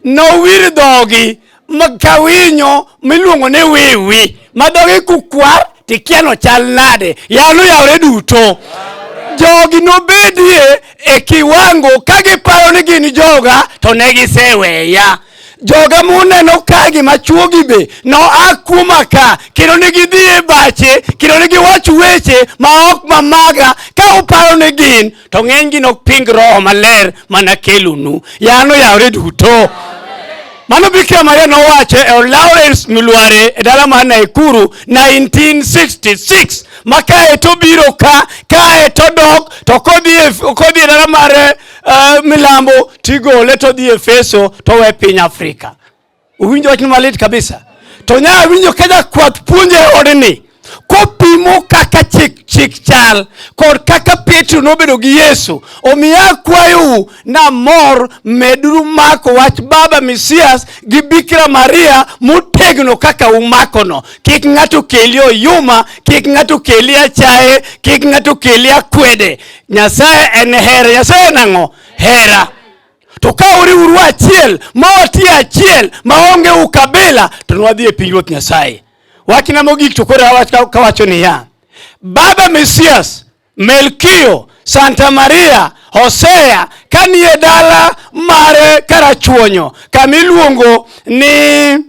nowir dhogi ka winyo miluongo ni wiwi ma dhogi kukwar tikiano chal nade yalo yawre duto jogi nobedie e kiwango ka giparo ni gin joga to ne giseweya joga muneno ka gima chuogi be noa kuoma ka kendo ne gidhi e bache kendo ne giwacho weche ma ok mamaga ka uparo ni gin to ng'enygi nok ping roho maler mana kelonu yano yawre duto mano Bikira Maria nowacho e od Lawrence Milware e dala mar Naikuru 1966 ma kae to biro ka kae to dok to kodhi e, kodhi e dala mar uh, milambo tigole todhi e feso towe piny Afrika Uwinjo wachni malit kabisa. To nya awinjo ka jakwath puonjo e odni kopimo kaka chik chik chal kod kaka Petro nobedo gi Yesu. Omiyo akwayou namor meduru mako wach Baba Misias gi Bikira Maria motegno kaka umakono. Kik ng'ato keli oyuma, kik ng'ato keli achaye, kik ng'ato keli akwede. Nyasaye en hera. Nyasaye en ang'o? Hera. To ka uriuru achiel ma watie achiel maonge ukabila to nwadhi e pinyruoth Nyasaye. Wachna mogik to koro kawacho niya, Baba Mesias, Melkio, Santa Maria, Hosea kanie dala mare Karachuonyo kamiluongo ni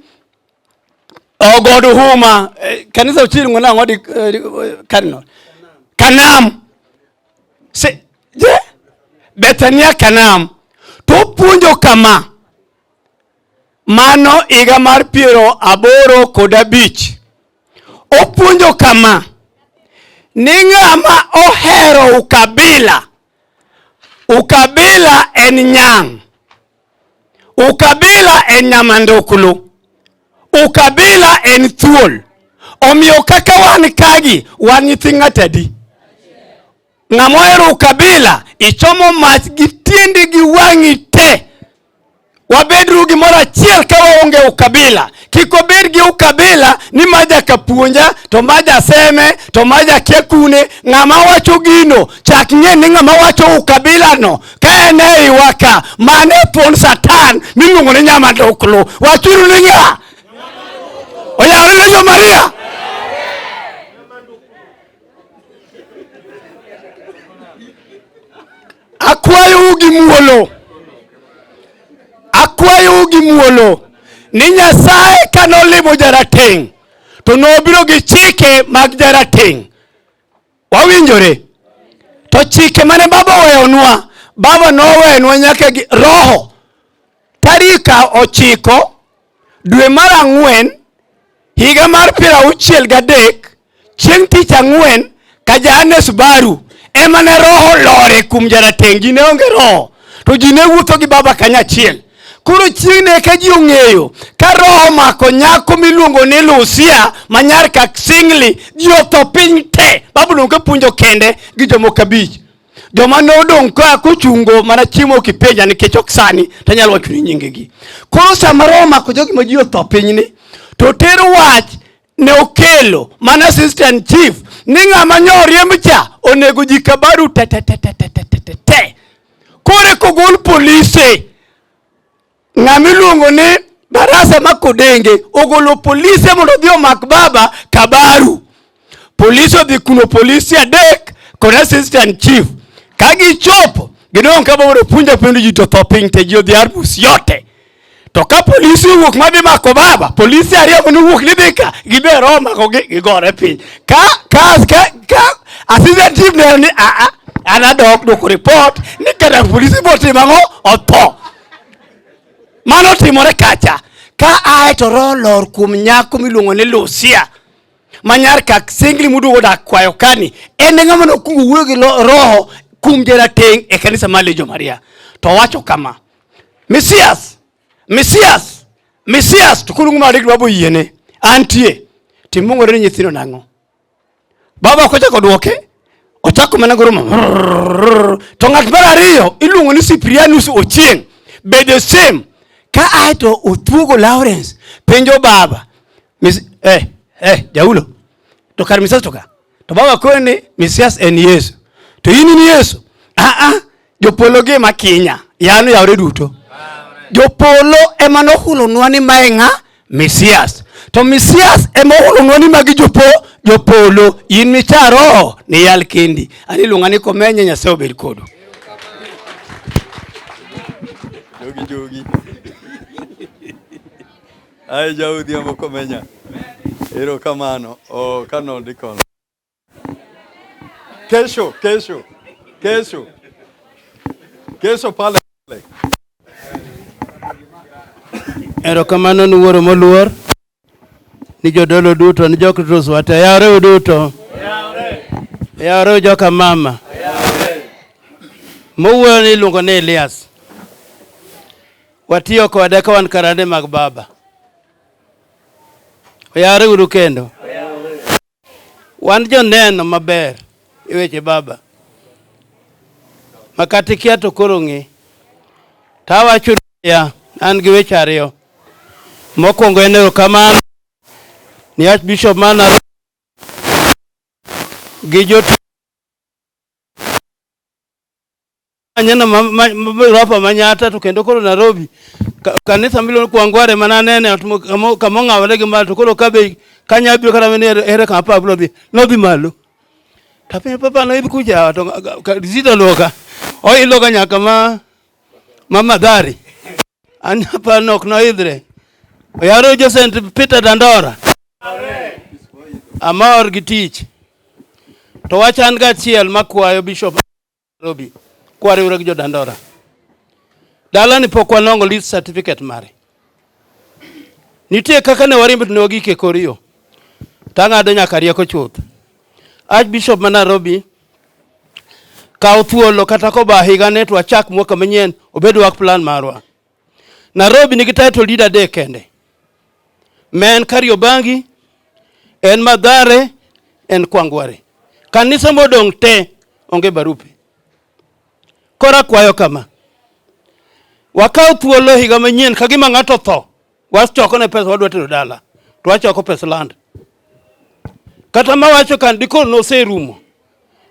Ogod oh, Huma eh, kanisa ochiringo nang'o di eh, eh, Cardinal Kanam Se, yeah. Bethania Kanam to opuonjo kama mano higa mar piero aboro kod abich opuonjo kama ni ng'ama ohero ukabila ukabila en nyang' Ukabila en nyama ndukulu, ukabila en thuol. Omiyo kaka wan kagi, wan nyithi ng'atadi. Ng'ama ohero ukabila, ichomo mach gi tiendi gi wang'i te. Wabedru gimoro achiel ka waonge ukabila, Kik obed gi ukabila ni ma jaka puonja to ma jaseme to ma jakia kune. Ng'ama wacho gino chak ng'e ni ng'ama wacho ukabila no ka en e iwa ka mane thuon Satan miluongo ni nyamaduklu. Wachuru ni ng'a? Oyawre ne jo Maria. Akwayou gi muolo, akwayou gi muolo ni Nyasaye ka nolimo jarateng' to nobiro gi chike mag jarateng'. Wawinjore? To chike mane Baba oweyonwa, Baba nowenwa nyaka gi Roho. Tarika ochiko dwe mar ang'wen higa mar piero auchiel gadek chieng' tich ang'wen ka Johannes Baru ema ne roho lore kuom jarateng' ji ne onge roho to ji ne wuotho gi baba kanyachiel koro chieng' ne ka ji ong'eyo ka roho mako nyako miluongo ni Lucia ma nyar Kaksingli ji otho piny te Babulon ka puonjo kende gi jomoko abich joma ne odong' ka kochungo mana chiemo kipenja nikech ok sani tanyalo wacho ni nyingegi koro sama roho mako jogi ma ji otho pinyni to ter wach ne okelo mana assistant chief ni ng'ama nyo riemb cha onego ji kabaru tetetetetetete kore kogol polise Ng'ama iluongo ni Barasa ma Kodenge ogolo polise mondo odhi omak baba Kabaru. Polise odhi kuno polise adek kod assistant chief. Ka gichopo gidong' ka baba opunja penjo ji to tho piny te ji odhi arbus yote. To ka polisi owuok ma dhi mako baba, polisi ariyo mane owuok ni dhi ka, giber omako gi gigore piny. Ka ka ka, ka assistant chief ne ni a a an adok dwoko report ni kata polisi botimo ang'o otho. Mano otimore kacha ka ae to roho lor kuom nyako miluongo ni Lucia manyar kak singli muduogo dak kwayo kani en ng'a mano kugo wuoyo gi roho kum jarateng' e kanisa mar Legion Maria to wacho kama Mesias Mesias Mesias to kulungu ma dik dwabo yiene antie timungore ni nyithindo nang'o Baba kochako dwoke ochako mana goro to ng'at mar ariyo iluongo ni Cyprianus Ochieng be the same ka ae to othuogo Lawrence penjo baba Miss, eh, eh, jaulo to kar misas to ka to baba koni misias en Yesu to in in Yesu ah ah Jopolo gi ma kinya. Yano yawre duto. Jopolo ema nohulonwa ni mae ng'a Mesias. To Mesias ema ohulonwa ni magi jopo jopolo. In micha roho ni yal kendi. Ani luonga ni komenye Nyasaye obed kodu. Jogi jogi. Ai jaudhi amoko menya. Ero kamano. O kano dikono. Kesho, kesho, kesho, kesho pale pale. Erokamano ni wuoro moluor ni jodolo duto ni jokritos wate yawreuru duto yawreuru joka mama mowuoyo ni iluongo ni Elias watiyo kode ka wan karande mag baba oyawreuru kendo Wan joneno maber e weche Baba. Makata ikia to koro ng'e. Tawacho niya, an gi weche ariyo. Mokwongo en erokamano ni Archbishop mar Nairobi gi jotich Aneno mabiro hapa Manyata to kendo koro Nairobi kanisa miluongo Kwangware mana nene kama ong'awore gi malo to koro kabe kanya biro kata mene ere kama papa biro dhi nodhi malo to piny papa no ibi kuja to zito loka oiloka nyaka ma ma madhari an papa no ok noidhre oyaro jo St Peter Dandora amor gi tich to wachan ga chiel makwayo bishop Nairobi kwariwre gi jodandora dalani pok wanongo lease certificate mare nitie kaka ne warimb ne wagike kor yo tang'ado nyaka rieko chuth Archbishop ma Nairobi kaw thuolo kata koba higa ne to wachak mwaka manyien obed work plan marwa Nairobi nigi title deed adek kende. Ma en Kariobangi, en Madhare, en Kwangware. Kanise modong' te onge barupe. Koro akwayo kama, wakaw thuolo e higa manyien ka gima ng'ato otho, wachoko ne pesa wadwa tero dala, to wachoko pes land. Kata mawacho ka dikoro noserumo,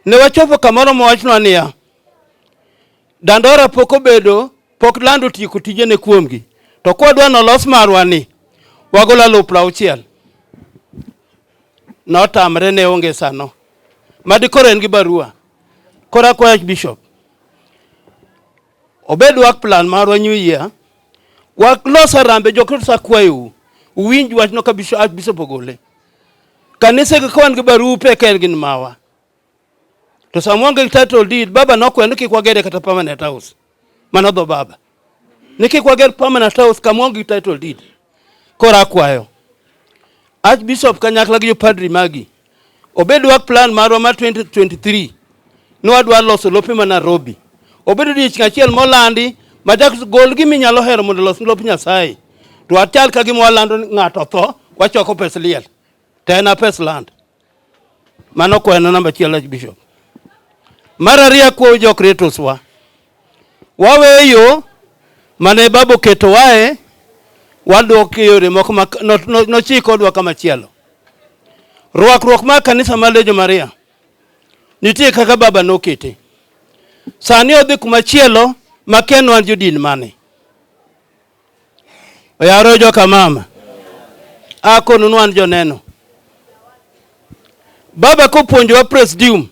ne wachopo kamoro mowachnwa niya, Dandora pok obedo pok land otieko tijene kuomgi, to kwadwa nolos marwa ni wagolo alufu auchiel notamre ne onge sano madi koro en gi barua koro akwayo bishop obed wak plan marwa new year walos arambe jokristo akwayou uwinj wachno ka bishop ogole kanisegi ka wan gi barupe ka en gin mawa To sama waonge gi title deed, baba nokweyo ni kik wagere kata permanent house. Mano dho baba. Ni kik wager permanent house kama waonge gi title deed. Koro akwayo. Archbishop kanyakla gi jopadri magi. Obed work plan marwa mar 2023. Ne wadwa loso lope ma Nairobi. Obedo odiechieng' achiel molandi ma chak gol gima inyalo hero mondo olos lop Nyasaye. To wachal ka gima walando ni ng'ato otho, wachoko pes liel. To en a pes land. Mano kwano namba achiel Archbishop. Mar ariyo akwayo jokritos wa waweyo yo mane baba oketo wae wadok e yore moko ma no- no- nochik odwa kama chielo. Rwakruok mar kanisa mar Legion Maria nitie kaka baba nokete. Sani odhi kuma chielo ma kia ne wan jodin mane. Oyaro joka mama. Akonu nwan joneno. Baba kopuonjowa presidium.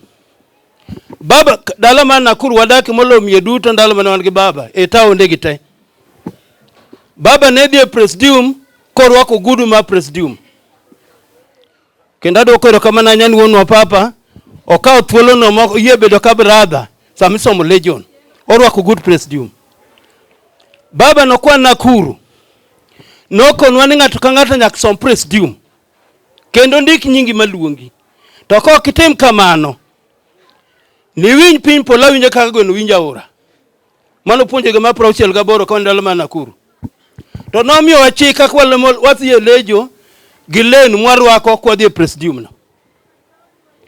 Baba dala man Nakuru wadaki molomie duto ndalo mane wan gi baba e taonde gi te. Baba ne dhi e presidium korwako gudu ma presidium. Kendo adwoko erokamano ahinya ni wuonwa Papa okawo thuolono ma oyie bedo ka brother sama isomo Legion. Orwako good presidium. Baba nokwa Nakuru nokonwa ni ng'ato ka ng'ato nyaka som presidium kendo ndik nyingi maluongi. To ka ok itim kamano, niwiny piny polo awinjo kaka gweno winjo aora. Mano puonjo gima prauchiel gaboro ka ndalo ma Nakuru. To nomiyo wachik kaka wadhi e lejo gi len mwarwako kwa dhi e presidium no.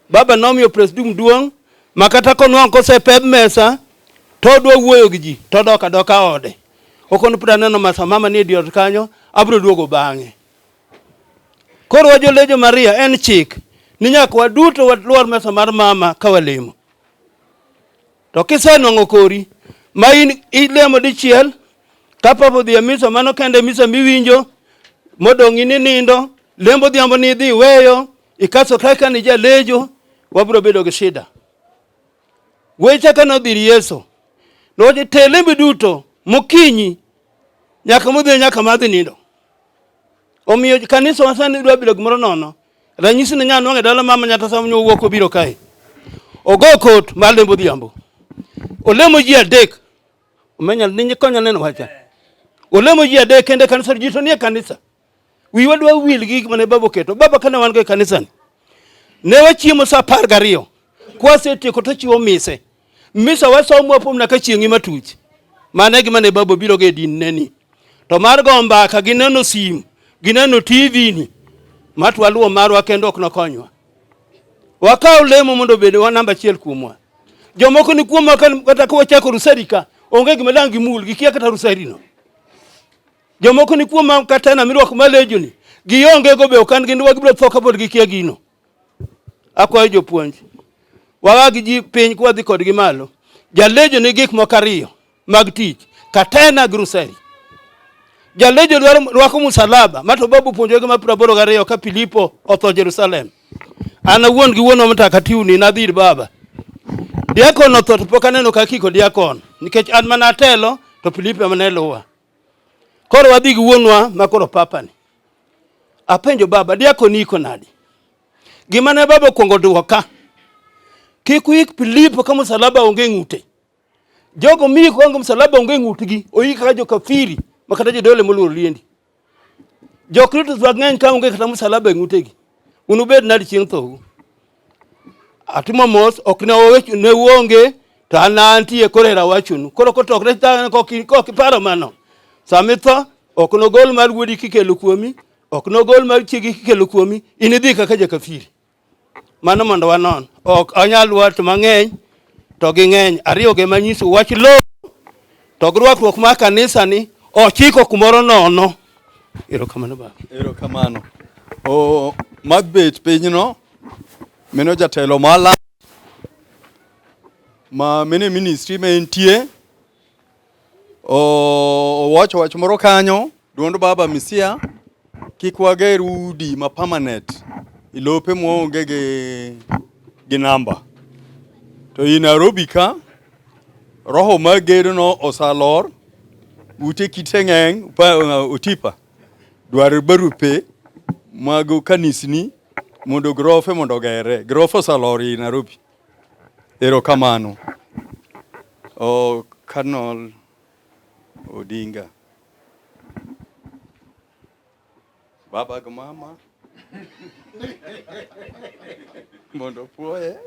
Baba nomiyo presidium duong' ma kata konwang' kosepeb mesa to odwa wuoyo gi ji to odok adoka ode. Okono pira neno masa mama ni e diot kanyo abro duogo bang'e. Koro wajo lejo Maria en chik ni nyaka waduto walwar mesa mar mama ka walemo. To kisenwang'o kori ma in ilemo dichiel ka papa odhi e misa mano kende misa miwinjo modong' in inindo lembo odhiambo ni idhi iweyo ikaso kaka ni jalejo wabiro bedo gi shida weche ka nodhi ir yesu nowacho te lembi duto mokinyi nyaka modhi nyaka madhi nindo Omiyo kanisa wasani dwa bilo gimoro nono. Ranyisi ne nyaa nwang'e dala mama nyata sama nyo wuok obiro kae. Ogo kot mar lembo dhiambo. Olemo ji adek. Omenya ninyi konya neno wacha. Olemo ji adek kende kanisa ji to nie kanisa. Wi wadwa wil gi gik mane babo keto. Baba kana wan go e kanisa ni. Ne wachiemo saa apar gariyo. Kwasetieko to chiwo mise. Misa wasom wapom na ka chieng'i matuch. Mane gima ne babo biro ge din ne ni. To mar go mbaka gineno sim, gineno TV ni. Matwa luo marwa kendo ok nokonywa. Wakaw lemo mondo bede wa namba achiel kuomwa. Jomoko ni kuomwa kata kwa chako rusari ka onge gima dangi mul gi kia kata rusari no. Jomoko ni kuomwa kata na mirwako malejo ni. Gionge go be okan gin wagibro thoka pod gi kia gino. Akwayo jopuonj wawa gi ji piny kwadhi kodgi malo. Jalejo ni gik moko ariyo mag tich, katena gi ruseri. Jalejo dwaro rwako musalaba ma to babu puonjo gi mapra boro gariyo ka Filipo otho Jerusalem. An awuon gi wuonwa mtakatiuni nadhi ir baba. Diakon otho to pok aneno ka kiko diakon nikech an mana atelo to Filipo ema ne luwa. Koro wadhi gi wuonwa ma koro papa ni. Apenjo baba, diako ni iko nadi? Gima ne baba okwongo dwoka, kik uik Filipo ka msalaba onge ng'ute. Jogo miiko ka msalaba onge ng'utgi, oik kaka jokafiri ma kata jodole moluoro liendi. Jokristo mang'eny ka onge kata msalaba e ng'utegi, unubed nadi chieng' thou? Atimo mos ok ne owecho ne uonge to an antie koro era wachonu. Koro kotokre tang' kok kok iparo mano. Sama itho ok nogol mar wuodi kikelo kuomi, ok nogol mar chiegi kikelo kuomi, inidhi kaka jakafiri. Mano mondo wanon. Ok onyal wat mang'eny to ging'eny ariyo gi ma nyiso wach lowo to gi rwakruok mar kanisa ni ochiko kumoro nono erokamano baba erokamano o mabet pinyno meno jatelo mala ma mene ministry ma entie Owacho wach moro kanyo, duond baba Misia, kik wager udi ma permanent ilope mwaonge gi, gi namba. To i Nairobi ka roho mar gedono osalor ute kite ng'eny uh, otipa dwaro barupe mag kanisni mondo grofe mondo ogere. Grofe osalor i Nairobi. Erokamano. Oh, Cardinal Odinga. Baba gi mama. Mondo puoye.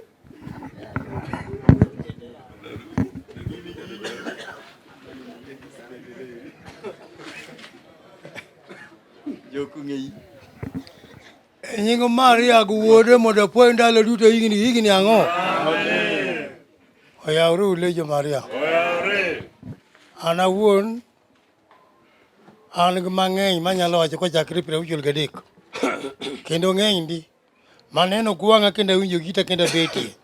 Jokung'eyi. E nying Maria gi wuode mondo apuoyo ndalo duto higni higni ang'o? Oyawre ulejo Maria. An awuon an gi mang'eny manyalo wacho kochakre piero auchiel gadek kendo ng'eny ndi maneno gwang'a kendo awinjo gita kendo abetie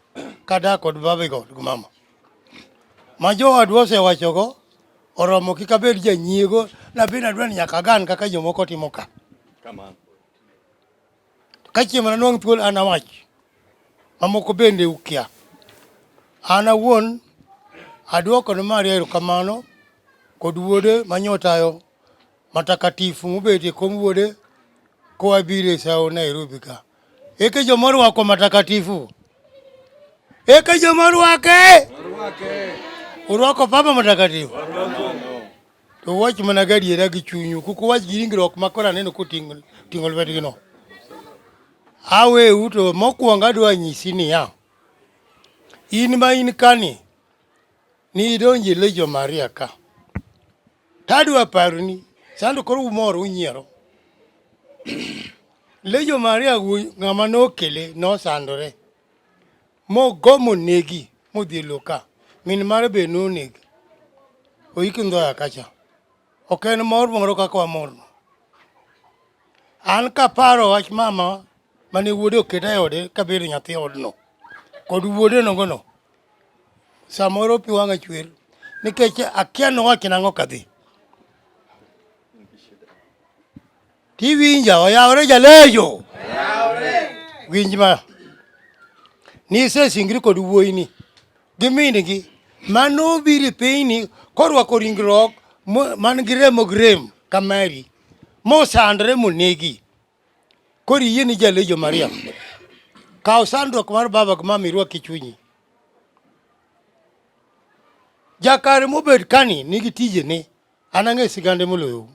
kadak kod babego gi mama ma jowadwa osewachogo oromo kik abed janyiego nabed adwa ni nyaka agan kaka jomoko timo ka. Kamano. Ka chieng' mana nwang' thuol an awach, mamoko bende ukia. An awuon adwoko ne Maria erokamano kod wuode manyotayo matakatifu mobet e kom wuode koa biro e sawo Nairobi ka. Eke joma orwako matakatifu. Eke joma orwake. Orwako Papa Matakatifu. To wach mana gadiera gi chunyu, kuk uwach gi ringruok ma koro aneno koting'o ting'o lwetgino. Aweu to mokwongo adwa nyisi niya, in ma in kani, nidonji Lejo Maria ka. Tadwa paroni, sando koro umor unyiero. Lejo Maria ng'ama nokele nosandore. Mogo monegi modhi e lowo ka. Min mare be noneg. Oiki ndhoya kacha. Ok en mor moro kaka wamorno. An kaparo wach mama mane wuode oketa e ode kabedo nyathi odno kod wuode nogono samoro pi wang'a chwer nikech akia nowach nang'o kadhi Tiwinja oyawore jalejo. Winj ma. Nisesingri kod wuoyini gi min-gi mano biri pinyni korwako ringruok mo- man gi remo gi rem ka mari mosandre monegi koro iyie ni jalejo mariam kaw sandruok mar baba gi mama irwak e chunyi jakare mobed kani nigi tijene An ang'e sigande moloyo.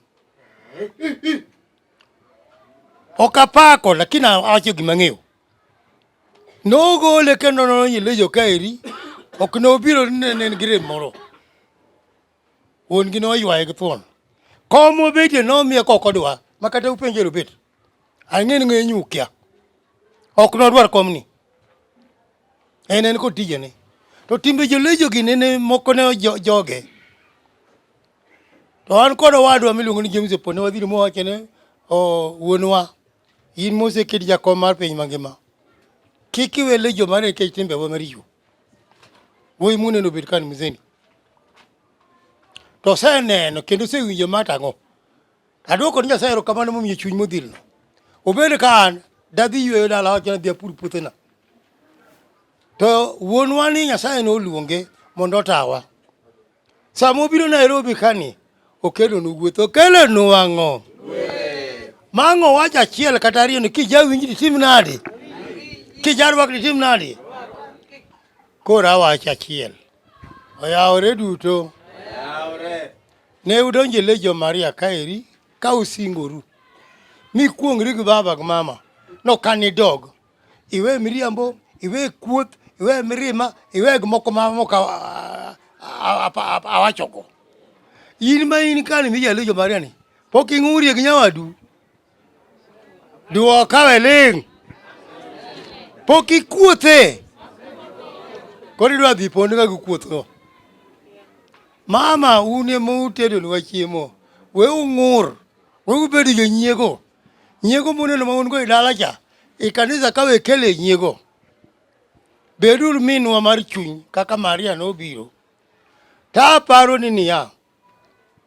Ok apako lakini awacho gima ng'eyo. Nogole kendo nonyile jo kaeri. Ok nobiro nene gi rem moro. Wuon gi noywaye gi thuon. Kom obedie nomiye kokodwa makata upenjero bet. Ang'eni ng'e nyukia. Ok nodwar komni. En en kod tijene. To timbe jolejo gi nene moko ne joge. To an kod owadwa miluongo ni James Opon ne wadhiro mowacho ne wuonwa in moseked jakom mar piny mangima kik iwe lejo mane nikech timbewa maricho. Wuoyi muneno obed kani mzeni. To oseneno kendo osewinjo matang'o. Adwoko ni Nyasaye erokamano momiyo chuny modhilno. Obed ka an dadhi yweyo dala wacho nadhi apur puothena. To wuonwa ni Nyasaye noluonge mondo otawa. Sama obiro Nairobi kani okelonu gweth okelonu ang'o? Mang'o wach achiel kata ariyo ni kijawinj ditim nadi? Kijarwak ditim nadi? Koro awacho achiel. Oyawore duto. Oyawore. Ne udonje le jo Maria kaeri ka usingoru. Mi kuongri gi baba gi mama. No kani dog. Iwe miriambo, iwe kuoth, iwe mirima, iwe gimoko ma moka awachogo. In ma in kani mijalejo Maria ni. Pok ing'urie gi nyawadu. Duo kawe ling'. Pok ikuothe. Koro idwa dhi pond ka gikuothgo. Mama un ema utedonwa chiemo. We ung'ur. We ubed jonyiego. Nyiego muneno ma un go e dala cha, e kanisa ka we kele nyiego. Beduru minwa mar chuny kaka Maria nobiro. Ta aparo ni niya,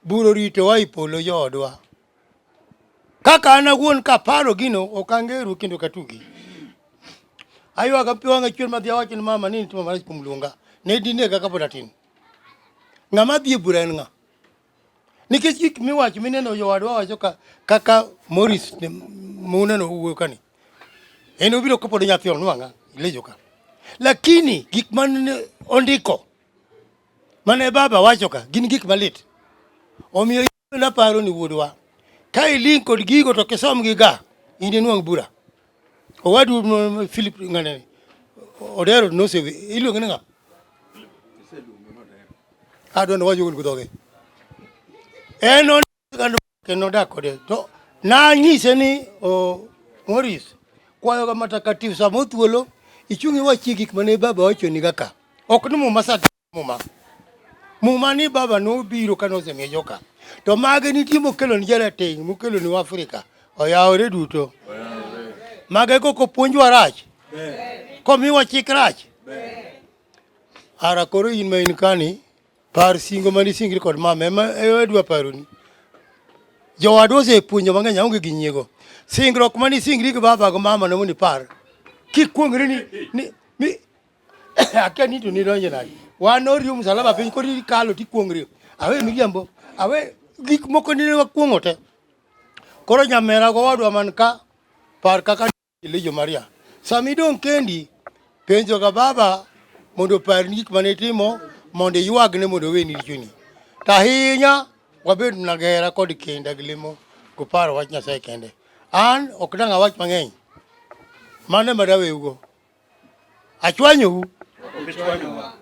Buro ritowa e polo joodwa. Kaka an awuon kaparo gino ok angeru kendo katugi. Aywaga pi wang'a chwer madhi awacho ni mama ni nitimo marach kuom luonga. Ne dinega kapod atin. Ng'ama dhi e bura en ng'a? Nikech gik miwacho mineno jowadwa wacho ka kaka Morris muneno wuoyo kani. En obiro kapod nyathi onwang'a lejo ka. Lakini gik man ondiko Mane baba wacho ka gin gik malit. Omiyo naparo ni wuodwa, ka iling' kod gigo to kisomgi ga in inwang' bura. Owadu m- Philip ng'ane Odero nosewe iluonge ni ng'a? Adwa ni wacho gol gudhoge. En on- Kendo nodak kode to nanyise ni oh, Morris kwayoga matakatifu sama othuolo ichung' iwachie gik mane baba wachoni kaka ok ni muma sa muma muma ni baba nobiro kane osemiye joka to mage nitie mokelo ni jarateng' mokelo ni Afrika oyawore duto mage koko puonjwa rach komiwa chik rach ara koro in ma in kani Par singo mane isingri kod mama ema adwa paroni. Jowadwa osepuonjo mang'eny aonge gi nyiego. Singruok mane isingri gi baba gi mama ne mondo ipar. Kikuong'ri ni ni mi akia ni to nidonjo nadi. Wan oriyo msalaba piny koro ikalo tikuong'ri. Awe miriambo. Awe gik moko nene wakuong'o te. Koro nyamera gowadwa man ka par kaka Kilijo Maria. Sama idong' kendi, penjoga baba mondo oparni gik mane itimo mondo iywagne mondo oweni richoni. To ahinya wabed na gera kod kinda gi lemo koparo wach Nyasaye kende. An ok dang' awach mang'eny. Mano ema daweugo. Achwanyou. Achwanyou.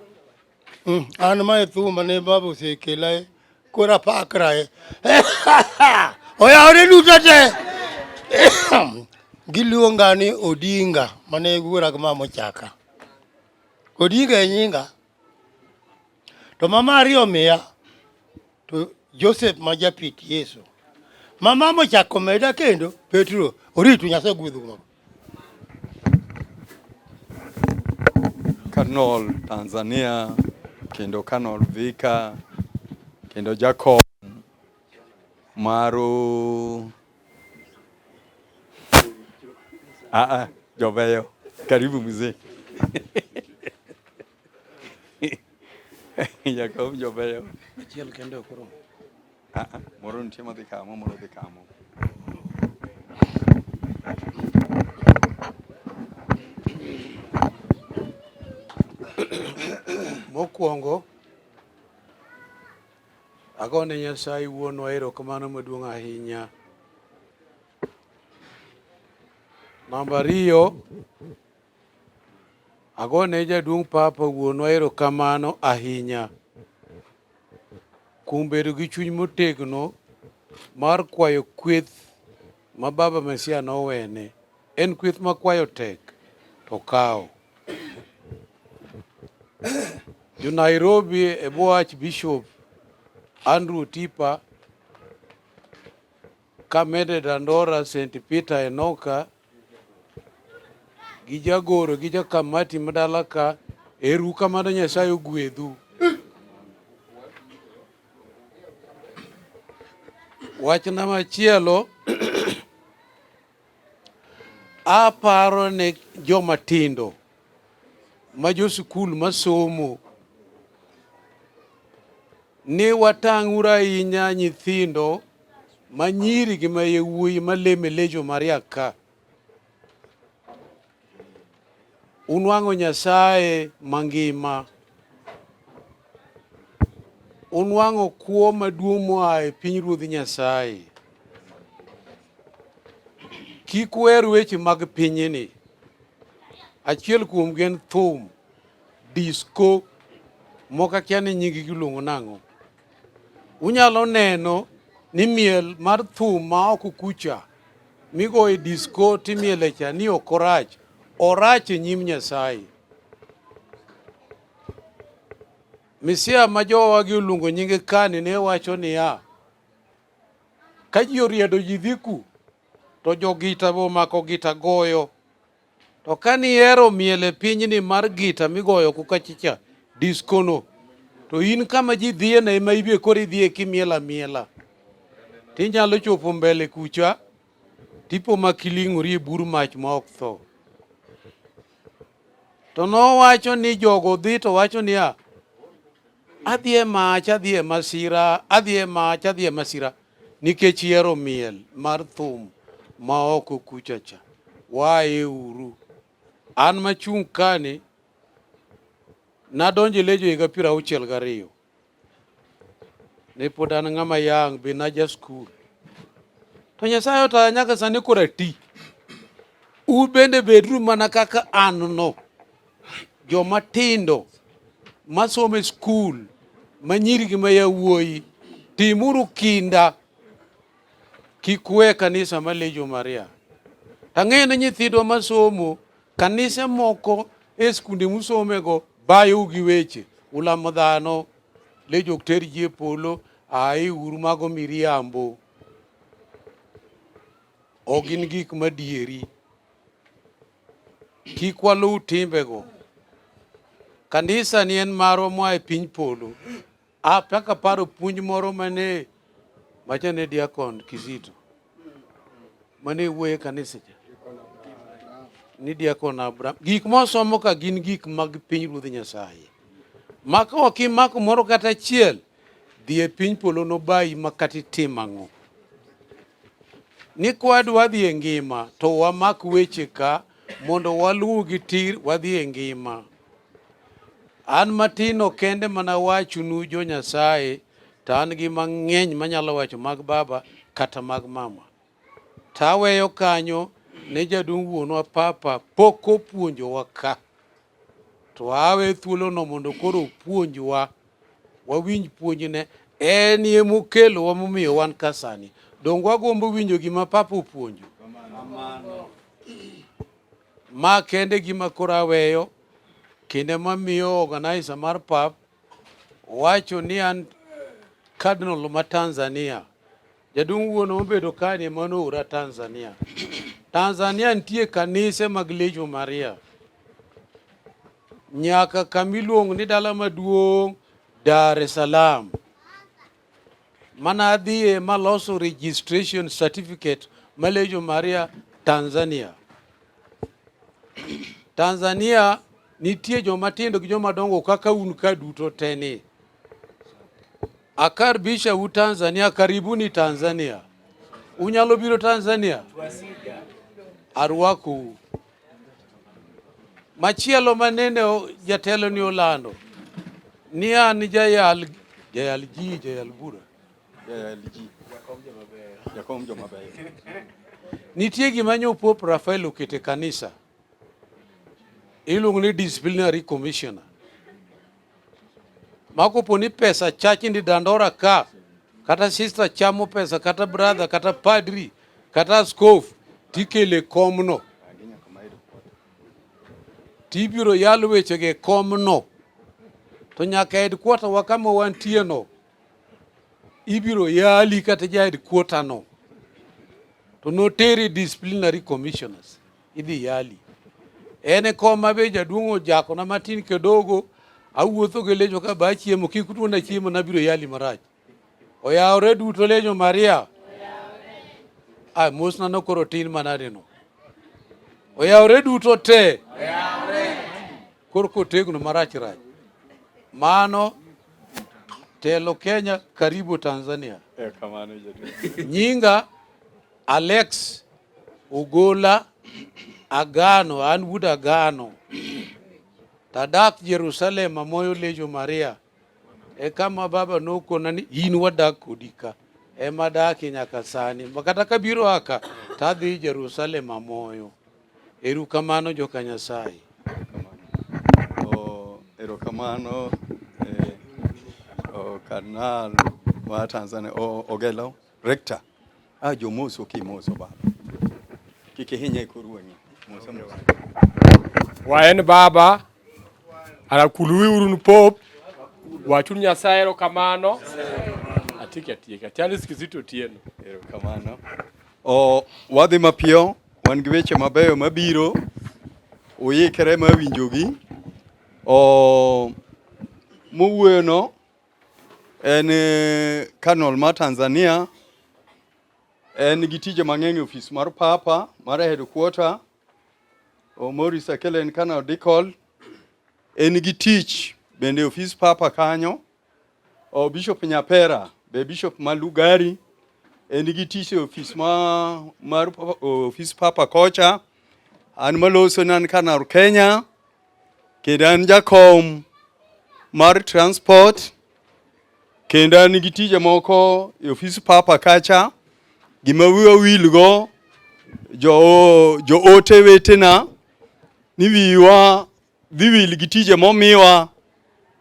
Hmm, an ma e thumba ne baba osekela e koro apakra e oyawore duto te giluonga ni Odinga mane wuora gi mama ochaka Odinga e nyinga to mama ariyo miya to Joseph ma japit Yesu mama mochako meda kendo Petro oritu Nyasaye gwedhu mago Kanol Tanzania kendo Kanol Vika kendo Jacob maru ah, ah, Joveyo karibu mzee Jacob jo beyo. Achiel kende ok oromo. Ah, ah, moro nitie madhi kamo, moro dhi kamo. Mokwongo, agone Nyasaye wuonwa erokamano maduong' ahinya. Namba ariyo, Agone jaduong' Papa wuonwa erokamano ahinya kuom bedo gi chuny motegno mar kwayo kweth ma Baba Mesia nowene. En kweth ma kwayo tek to kawo. Jo Nairobi e bwo Archbishop Andrew Tipa, kamede Dandora, St. Peter Enoka, gi jagoro gi jakamati madala ka eru kamano Nyasaye ogwedhu. Wachna machielo aparo ne joma tindo ma jo sukul masomo ni watang'uru ahinya nyithindo ma nyiri gi ma yawuoyi ma leme lejo maria ka unwang'o Nyasaye mangima, unwang'o kwo maduong' moa e piny ruodh Nyasaye. Kik wer weche mag pinyni. Achiel kuom gen thum, disco, moko akia ni nying giluongo nang'o. Unyalo neno ni miel mar thum ma ok kucha migo e disko timiele cha ni ok orach, orach e nyim Nyasaye. Misia ma jowagi oluongo nyinge kani ne wacho niya, ka ji oriedo ji dhiku to jogita bo mako gita goyo To ka nihero miel e pinyni mar gita migoyo kukachicha, diskono, to in kama ji dhiyeno ema ibie koro idhiye kimiel amiela. Tinyalo chopo mbele kucha, tipo ma kiling'ori e bur mach ma ok tho. To nowacho ni jogo dhi to wacho niya, adhi e mach, adhi e masira, adhi e mach, adhi e masira. Nikech ihero miel mar thum ma oko kucha cha, waye uru. An machung' kani, nadonjo e Lejo higa piero auchiel gariyo. Ne pod an ng'ama yang' be naja skul. To Nyasaye otaya nyaka sani kora ti. U bende bedru mana kaka an no. joma tindo masomo e skul ma nyiri gi ma yawuoyi, timuru kinda kik we kanisa ma Legion Maria. Tang'eyo ni nyithindwa masomo kanise moko e skunde musomego bayou gi weche ulamo dhano lejo ok ter ji e polo ae uru mago miriambo ok gin gik madieri Kik waluw timbego. Kanisa ni en marwa moa e piny polo. Apaka paro puonj moro mane macha ne diakon Kizito mane wuoye kanisa cha ni diakon Abraham. Gik mosomo ka gin gik mag piny Ruodh Nyasaye. Maka ok imako moro kata achiel Dhi e piny polo nobayi ma kata itim ang'o. Ni kwadwa dhi e ngima to wamak weche ka mondo waluwgi tir wadhi e ngima. An matino kende mana wachonu jo Nyasaye to an gi mang'eny manyalo wacho mag baba kata mag mama. To aweyo kanyo ne jaduong' wuonwa papa pok opuonjowa ka. To awe thuolono mondo koro opuonjwa, wawinj puonjne. En ye mokelowa momiyo wan ka sani. Donge wagombo winjo gima Papa opuonjo? Ma kende gima koro aweyo, kinde mamiyo organizer mar pap wacho ni an Cardinal ma Tanzania. Jaduong' wuon obedo kanye mano ura Tanzania. Tanzania nitie kanise mag Legion Maria. Nyaka kamiluong ni dala maduong' Dar es Salaam. Mana adhiye maloso registration certificate ma Legion Maria Tanzania. Tanzania nitie joma tindo gi joma dongo kaka un ka duto teni. Akaribisha u Tanzania, karibuni Tanzania. Unyalo biro Tanzania? Arwakou. Machielo manene jatelo ni olando ni an jayal jayal ji jayal bura jayal ji jakom joma beyo. Nitie gima nyo Pop Rafael okete kanisa iluongo ni disciplinary commissioner. ma kopo ni pesa chachni dandora ka kata sister chamo pesa kata brother kata padri kata askof tikele komno tibiro yalo wechego e komno to nyaka headquarter wa kama wantieno ibiro yali kata ja headquarter no to noteri disciplinary commissioners idhi yali. En e kom ma be jaduong' ojakona matin kidogo, awuotho gi lejo ka ba chiemo, kik utuona chiemo nabiro yali marach. Oyawore duto lejo Maria. Ah, mosna nokoro tin manadino. Oyawore duto te. Koro kotegno marach rach. Mano telo Kenya karibu Tanzania. Nyinga Alex Ugola Agano, an wuod Agano, tadak Jerusalem amoyo lejo Maria. E kama baba nokona ni in wadak kodi ka ema adakie nyaka sani, makata kabiro aka tadhi Jerusalem amoyo. Erukamano joka Nyasaye. Oh, erokamano eh, oh, Karnal wa Tanzania oh, Ogello. Rector, ah jomoso kimoso baba. Kikihinya ikoruonye. Moso moso. Waen baba arakuluwi urun pop wachun Nyasaye erokamano atiki atieka Charles Kizito Otieno erokamano o wadhi mapiyo wan gi weche mabeyo mabiro uyikre mawinjogi o mowuoyono En eh, Cardinal ma Tanzania. En gi tije mang'eny e ofis mar Papa mar headquarter. Maurice Akele en canonical. En gi tich bende e ofis Papa kanyo. O Bishop Nyapera be Bishop ma Lugari en gi tich e ofis ma mar ofis Papa kocha. An maloso nan Canal Kenya. kendo an jakom mar transport kendo an gi tije moko e ofis papa kacha gima wiwa wilgo jo, jo ote wetena ni wiwa dhi wil gi tije momiwa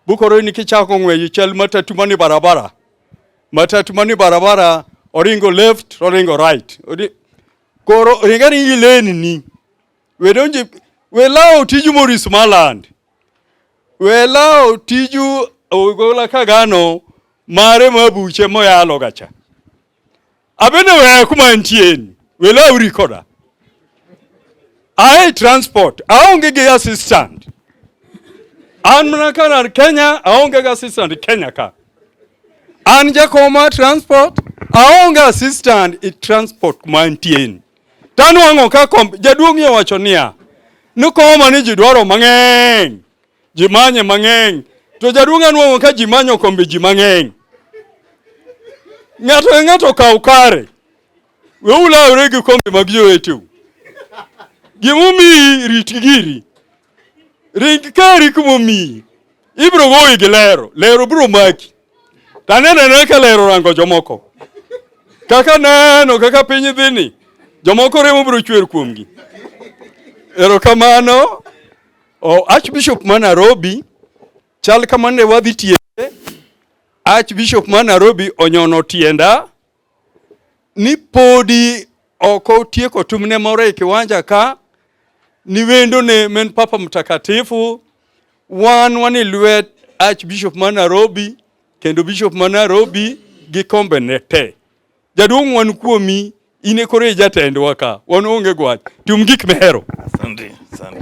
bukoro ni kichako ng'weyo chal matatu mani barabara matatu mani barabara oringo left oringo right Ori- koro ringa ringi leni ni We donje we lawo tiju Maurice Maland. We lawo tiju Ogola Kagano mare mabuche moyalo gacha. Abende we kuma ntieni. We lawo rikoda. Ae transport, aonge gi assistant. An mana kana Kenya, aonge gi assistant Kenya ka. An jakoma transport, aonge assistant i transport mantieni. To anwang'o ka kom, jaduong' owacho niya, ni koma ni ji dwaro mang'eny, ji manye mang'eny. To jaduong' anwang'o ka ji manyo kombe ji mang'eny. Ng'ato ka ng'ato kaw kare. We ulawre gi kombe mag joweteu. Gimomiyi rit giri. ring kari kuma omiyi ibiro goyi gi lero lero biro maki to aneno anena ka lero rango jomoko kaka neno kaka piny dhini jomoko remo biro chwer kuomgi erokamano oh, archbishop ma nairobi chal kamane wadhi tiende archbishop ma nairobi onyono tienda ni podi ok otieko tumne moro e kiwanja ka ni wendo ne men Papa Mtakatifu wan wani lwet Archbishop ma Nairobi kendo Bishop ma Nairobi gi kombe ne te. Jaduong' wan kuomi in e kore jatendwa ka wan onge gwach tum gik mehero. Asante, asante.